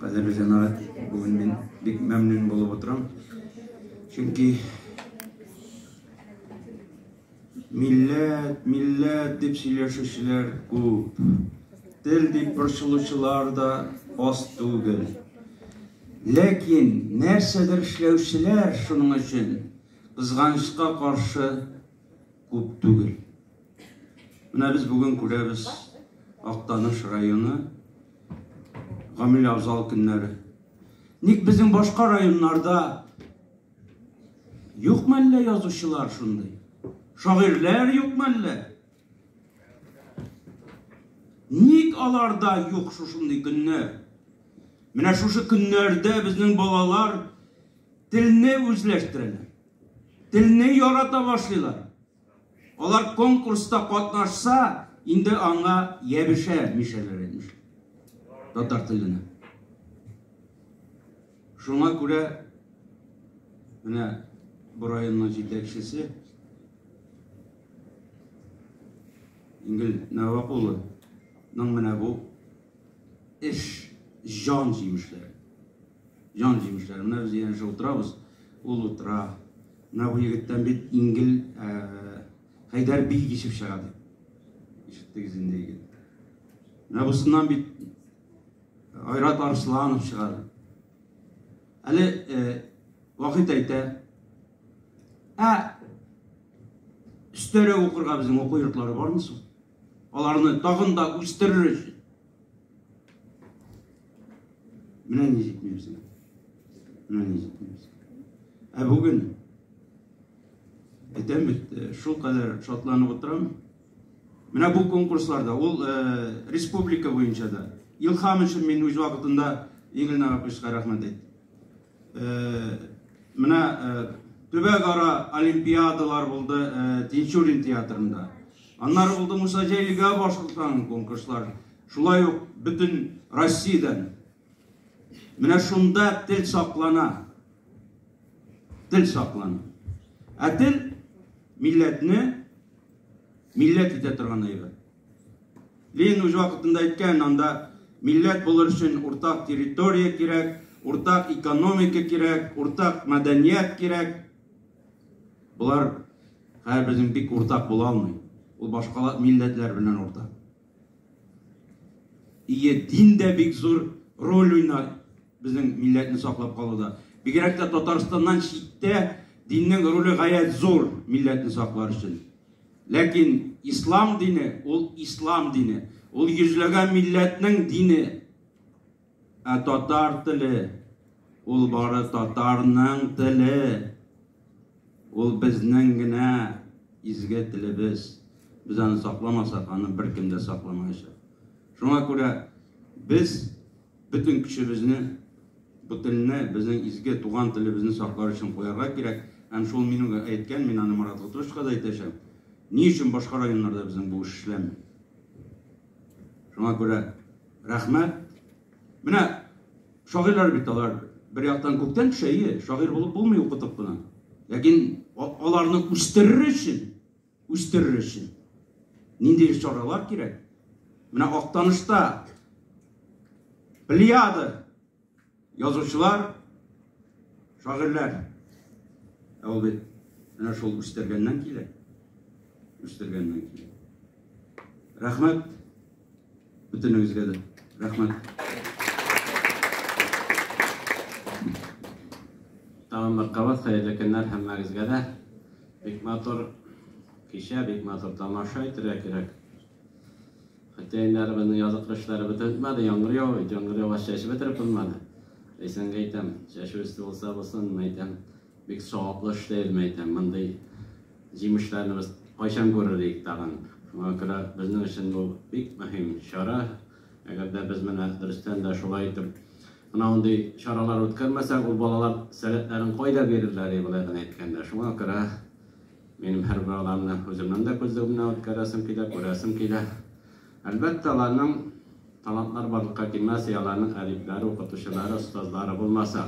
Кадерле җәмәгать, бүген мин бик мәмнүн булып утырам. Чөнки милләт, милләт дип сөйләшүчеләр күп. Тел дип борчылучылар да аз түгел. Ләкин нәрсәдер эшләүчеләр шуның өчен кызганычка каршы күп түгел. Менә без бүген күрәбез Актаныш районы гамил абзал көннәре. Ник безнең башка районнарда юк мәллә язучылар шундый? Шагыйрьләр юк мәллә? Ник аларда юк шушындый көннәр? Менә шушы көннәрдә безнең балалар телне үзләштерәләр. Телне ярата башлыйлар. Алар конкурста катнашса, инде аңа ябешә мишәләр әйтмешли. Татар теленә. Шуңа күрә менә бу районның җитәкчесе Ингел Нәвак улының менә бу эш җан җимешләре. Җан җимешләре. Менә без янәшә утырабыз, ул утыра. Менә бу егеттән бит Ингел Хәйдәр бий кичеп чыга ди. Ишеттегез инде егет. Менә бусыннан бит Айрат Арсланов чыга. Әле Вахит әйтә, ә өстәрә укырга безнең уку йортлары бармы соң? Аларны тагын да үстерер өчен. Менә ни җитмибез. Менә ни җитмибез. Ә бүген әйтәм бит, э, шул кадәр шатланып утырам. Менә бу конкурсларда, ул э, республика буенча да. Илхам өчен мин үз вакытында Игорь Нарапычка рәхмәт әйттем. Менә төбәкара олимпиадалар булды Тинчурин театрында. Аннары булды Муса Җәлилгә башкортстанның конкурслар. Шулай ук бөтен Россиядән. Менә шунда тел саклана. Тел саклана. Ә тел милләтне милләт итә торган әйбер. Ленин үз вакытында әйткән, анда милләт булыр өчен уртак территория кирәк, уртак экономика кирәк, уртак мәдәният кирәк. Болар хәзер безнең бик уртак була алмый. Ул башка милләтләр белән уртак. Ие дин дә бик зур роль уйнар безнең милләтне саклап калуда. Бигрәк тә Татарстаннан читтә диннең роле гаять зур милләтне саклар өчен. Ләкин ислам дине ул ислам дине. Ул йөзләгән милләтнең дине. Ә татар теле ул бары татарның теле. Ул безнең генә изге телебез. Без аны сакламасак, аны беркем дә сакламаячак. Шуңа күрә без Бөтен көчебезне бу телне, безнең изге туган телебезне саклар өчен куярга кирәк. Һәм шул минем әйткән, мин аны Марат Готышевка да әйтәчәм, ни өчен башка районнарда безнең бу эш эшләми? Шуңа күрә рәхмәт. Менә шагыйрьләр бит алар бер яктан күктән төшә, ие, шагыйрь булып булмый укытып кына. Ләкин аларны үстерер өчен үстерер өчен нинди чаралар кирәк? Менә Актанышта плеяда язучылар, шагыйрьләр. Ә ул бит менә шул үстергәннән килә. Үстергәннән килә. Рәхмәт Бөтенегезгә дә рәхмәт. Тагын бер кабат хәерле көннәр һәммәгезгә дә. Бик матур кичә, бик матур тамаша итергә кирәк. Хотя инде әле безнең язгы эшләре бетмәде, яңгыр ява, яңгыр ява чәчеп бетереп булмады. Әйсәнгә әйтәм, чәчү өсте булса булсын, әйтәм. Бик саваплы эш дә үзем әйтәм. Мондый җимешләрне без кайчан күрер идек тагын. Шуңа күрә безнең өчен бу бик мөһим чара. Әгәр дә без менә дөрестән дә шулай итеп менә мондый чаралар үткәрмәсәк, ул балалар сәләтләрен кайда бирерләр ди болай гына әйткәндә. Шуңа күрә минем һәрбер аларны үземнең дә күзлегемнән үткәрәсем килә, күрәсем килә. Әлбәттә, аларның талантлары барлыкка килмәс, аларның әдипләре, укытучылары, остазлары булмаса.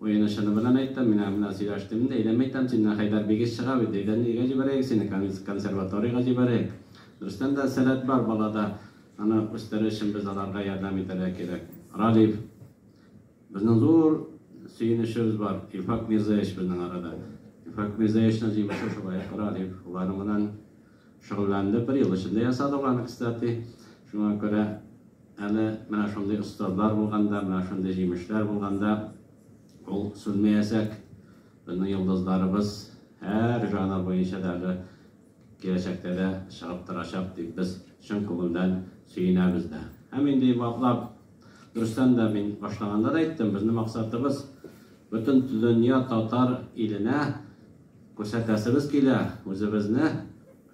Уены-чыны белән әйтәм, мин аңа менә сөйләштем инде, әйдәме әйтәм, синнән Хәйдәр бигез чыга бит, әйдә, нигә җибәрәек сине, консерваторийга җибәрәек. Дөрестән дә, сәләт бар балада, аны үстерер өчен без аларга ярдәм итәргә кирәк. Ралиф. Безнең зур сөенечебез бар, Илфак Мирзаевич безнең арада. Илфак Мирзаевичның җиңүче шулай ук Ралиф. Аларның белән. Шөгыльләнде, бер ел эчендә ясады ул аны, кстати. Шуңа күрә әле менә шундый остазлар булганда, менә шундый җимешләр булганда ул сүнмәячәк. Безнең йолдызларыбыз һәр жанр буенча да әле киләчәктә дә чыгып торачак дип без чын күңелдән сөенәбез дә. Һәм инде ваклап. Дөрестән дә, мин башлаганда да әйттем, безнең максатыбыз, бөтен дөнья татар иленә күрсәтәсебез килә үзебезне,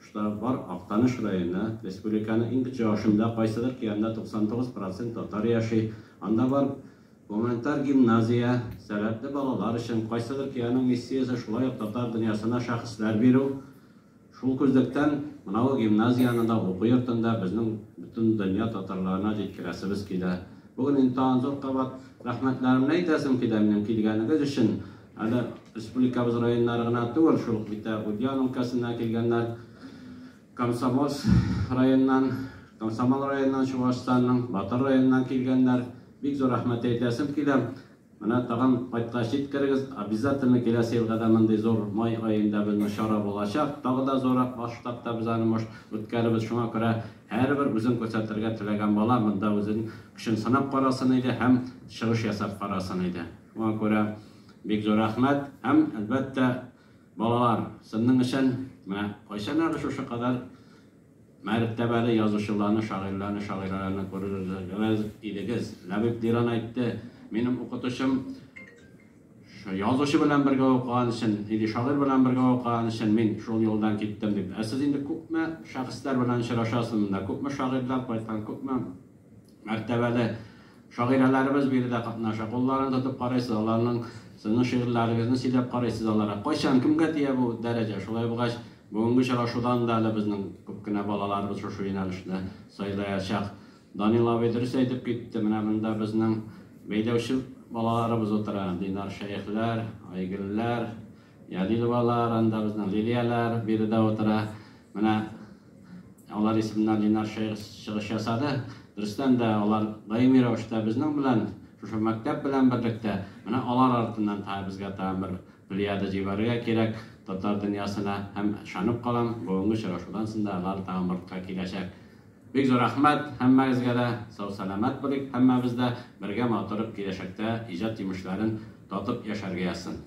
что бар Актаныш районы, республиканың иң кече ашында, кайсыдыр киянда 99 процент татар яши, анда бар гуманитар гимназия, сәләтле балалар өчен, кайсыдыр киянең миссиясе шулай ук татар дөньясына шәхесләр бирү. Шул күзлектән, мынау гимназияне дә уку йортында безнең бөтен дөнья татарларына җиткерәсебез килә. Бүген инде тагын зур кабат рәхмәтләремне әйтәсем килә минем килгәнегез өчен. Әле республикабыз районнары гына түгел, шул ук бит Ульян өлкәсеннән килгәннәр, Комсомольск районыннан, Комсомол районыннан Чуашстанның, Батыр районыннан килгәннәр. Бик зур рәхмәт әйтәсем килә. Менә тагын кайткач җиткерегез, обязательно киләсе елга да мондый зур май аенда безнең чара булачак, тагы да зуррак масштабта без аны может үткәрербез, шуңа күрә һәрбер үзен күрсәтергә теләгән бала монда үзен көчен сынап карасын иде һәм чыгыш ясап карасын иде. Шуңа күрә бик зур рәхмәт һәм, әлбәттә, балалар, сынның эчен, менә кайчанагы шушы кадәр Мәртәбәле язучыларны, шагыйрьләрне, шагыйрәләрне күрергез идегез. Ләбиб Диран әйтте, Минем укытучым язучы белән бергә укыган өчен, или шагыйрь белән бергә укыган өчен мин шул юлдан киттем, дип. Ә сез инде күпме шәхесләр белән очрашасыз монда, күпме шагыйрьләр кайткан, күпме Мәртәбәле шагыйрәләребез биредә катнаша. Кулларын тотып карыйсыз, аларның сезнең шигырьләрегезне сөйләп карыйсыз аларга. Кайчан, кемгә тия бу дәрәҗә? Шулай булгач, бүгенге очрашудан да әле безнең күп кенә балаларыбыз шушы юнәлешне сайлаячак. Данил абый дөрес әйтеп китте, менә монда безнең бәйләүче балаларыбыз утыра, Динар Шәехләр, Айгөлләр. Ядиловалар, анда безнең Лилияләр биредә утыра. Менә алар исеменнән Линар шәехс чыгыш ясады. Дөрестән дә, алар даими рәвештә безнең белән, шушы мәктәп белән берлектә. Менә алар артыннан тагы безгә тагын бер плеяда җибәрергә кирәк татар дөньясына. Һәм ышанып калам, бүгенге очрашудан соң да алар тагын бортка киләчәк. Бик зур рәхмәт һәммәгезгә дә. Сау-сәламәт булыйк һәммәбез дә. Бергә матур киләчәктә иҗат җимешләрен татып яшәргә язсын.